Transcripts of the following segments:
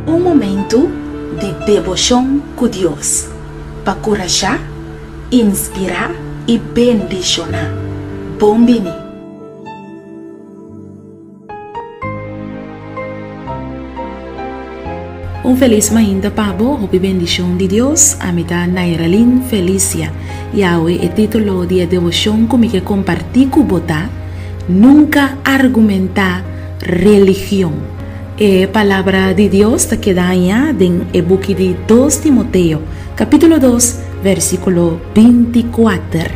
Un momentu di deboshon ku Dios pa kurashá, inspirá i bendishoná. Bon bini! Un felis mainta pa bo, hopi bendishon di Dios. Ami ta Nairalin Felicia, i awe e titulo di e devoshon ku mi ke kompartí ku bo ta, Nunka argumentá religion. E Palabra di Dios ta keda aña den e buki di Dos Timoteo, kapítulo dos, vèrsikulo binti kuater.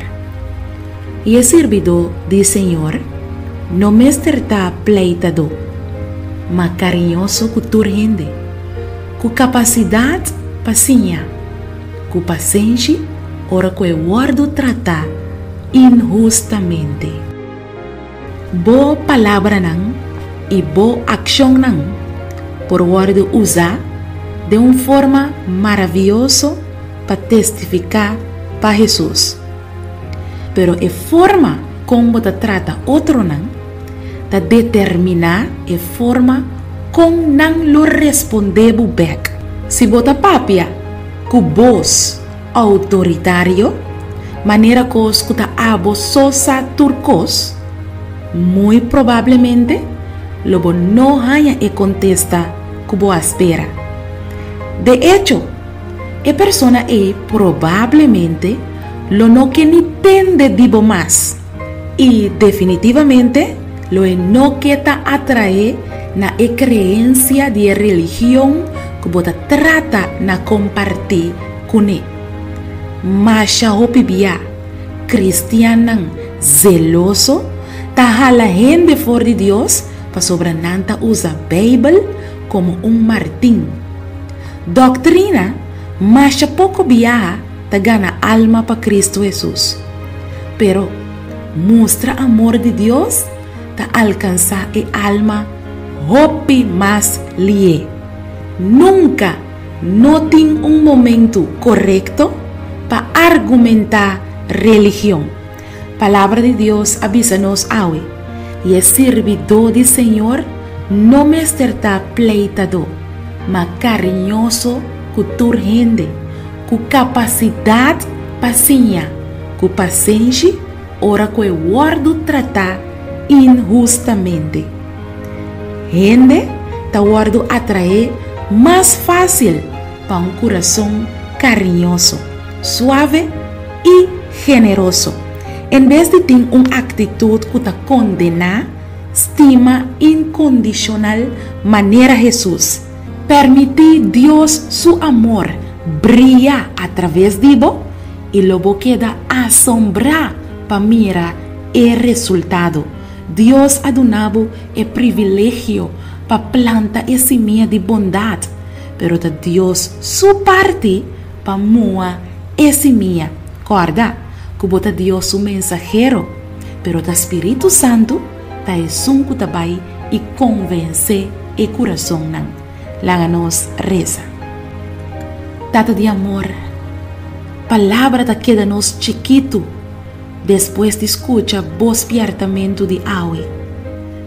I e sirbidó di e señor no mester ta pleitadó, ma kariñoso ku tur hende, ku kapasidat pa siña, ku pasenshi ora ku e wòrdu tratá inhustamente. Bo palabranan i bo akshonnan por wòrdu usá den un forma maravioso pa testifiká pa Hesus. Pero e forma kon bo ta trata otronan ta determiná e forma kon nan lo responde bo bèk. Si bo ta papia ku bos outoritario, manera kos ku ta abo so sa tur kos, muy probablemente lo bo no haña e kontesta ku bo a spera. De echo, e persona ei probablemente lo no ke ni tende di bo mas i definitivamente lo e no ke ta atraé na e kreensia di e religion ku bo ta trata na kompartí kuné. Masha hopi bia, kristiannan zeloso ta hala hende for di Dios pasobra nan ta usa Beibel komo un martin. Doktrina, Masha poko biaha ta gana alma pa Kristu Hesus. Pero, mustra amor di Dios ta alkansá e alma hopi mas lié. Nunka no tin un momentu korekto pa argumentá religion. Palabra di Dios a bisa nos awe, I e sirbidó di Señor no mester ta pleitadó, ma kariñoso ku tur hende, ku kapasidat pa siña, ku pasenshi ora ku e wòrdu tratá inhustamente. Hende ta wòrdu atraé mas fásil. pa un kurason kariñoso, suave i generoso, en bes di tin un aktitut ku ta kondená, stima inkondishonal manera Hesus. Permití Dios su amor bria atraves di bo, i lo bo keda asombrá pa mira e resultado. Dios a duna bo e privilegio pa planta e simia di bondat pero ta Dios su parti pa mua e simia. Kòrda ku bo ta Dios su mensahero, pero ta Spiritu Santu ta esun ku ta bai i konvensé e kurasonnan. Laga nos resa. Tata di amor, palabra ta keda nos chikitu despues di skucha Bo spièrtamentu di awe.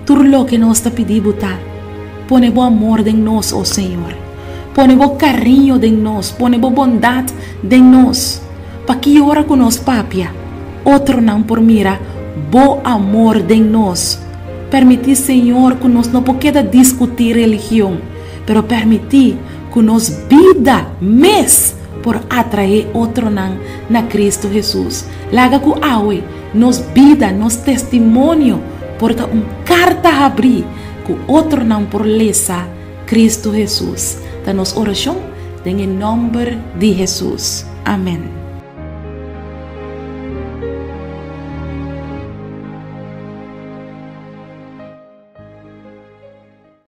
Tur loke nos ta pidi Bo ta, Pone Bo amor den nos, o Señor. Pone Bo kariño den nos, pone Bo bondat den nos. Pakí ora ku nos papia, otronan por mira Bo amor den nos? Permití, Señor, ku nos no por keda diskutí religion, pero permití ku nos bida mes por atraé otronan na Kristu Hesus. Laga ku awe Nos bida, nos testimonio por ta un karta habrí ku otronan por lesa, Kristu Hesus ta nos orashon, den e nòmber di Hesus. Amèn.